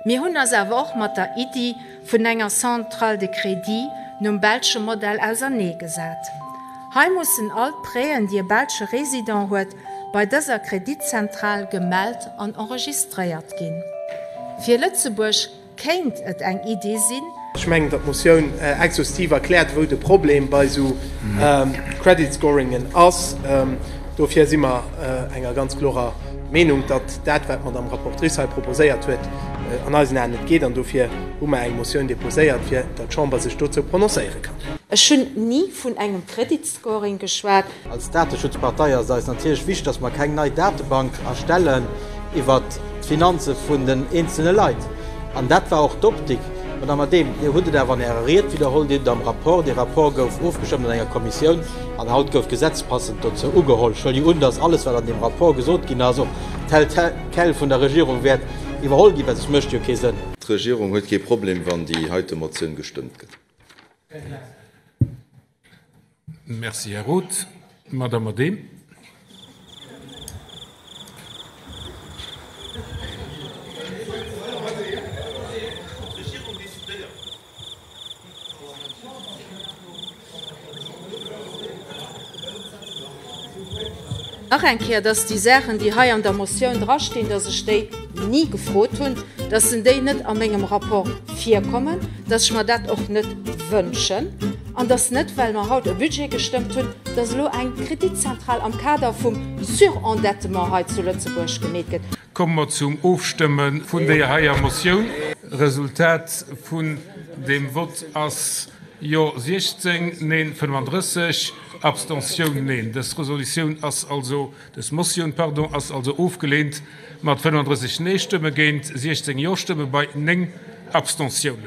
Mir hunn eis awer och mat der Iddi vun enger Centrale de crédit nom belsche Modell ausernee gesat. Hei mussen all d'Prêten, déi e belsche Résident huet, bei dëser Kreditzentral gemellt an enregistréiert ginn. Fir Lëtzebuerg kéint et eng Iddi sinn, Ech mengen, datt d'Motioun exhaustiv erkläert, wou de Problem bei esou Credit Scoringen ass. Dofir si mer enger ganz klorer Meenung, datt dat, wat d'Madamm Rapportrice hei proposéiert huet, an eisen Aen net geet. An dofir hu mer eng Motioun deposéiert, fir datt d'Chamber sech dozou prononcéiere kann. Ech hunn ni vun engem Credit. Scoring geschwat. Als Dateschutzpartei ass et eis natierlech wichteg, dass mer keng nei Datebank erstellen iwwert d'Finanze vun den eenzelne Leit. An dat war och d'Optik. Madame Adehm, Dir hutt et awer an Ärer Ried widderholl, Dir hutt et am Rapport, dee Rapport gouf ofgestëmmt an enger Kommissioun an haut gouf d'Gesetz passend dozou ugeholl. Ech huelen jo un, dass alles, wat an deem Rapport gesot ginn ass, och tel quel vun der Regierung wäert iwwerholl ginn, well soss mécht et jo kee Sënn. D'Regierung huet kee Problem, wann déi heite Motioun gestëmmt gëtt. Merci, Här Roth. D'Madame Adehm. Nach eng Kéier, dass déi Saachen, déi hei an der Motioun drastinn, dass ech déi ni gefrot hunn, dass se déi net a mengem Rapport virkommen, dass ech mer dat och net wënschen an dass net, well mer haut e Budget gestëmmt hunn, dass elo eng Kreditzentral am Kader vum Surendettement hei zu Lëtzebuerg gemeet gëtt. Komme mer zum Ofstëmme vun deeër heier Motioun. Resultat vun deem Vott ass, Jo 16, Neen 35, Abstention Neen. Dës Resolutioun ass also, dës Motioun, pardon, ass also ofgelehnt mat 35 Nee-Stëmme géint 16 Jo-Stëmme bei 9 Abstentiounen.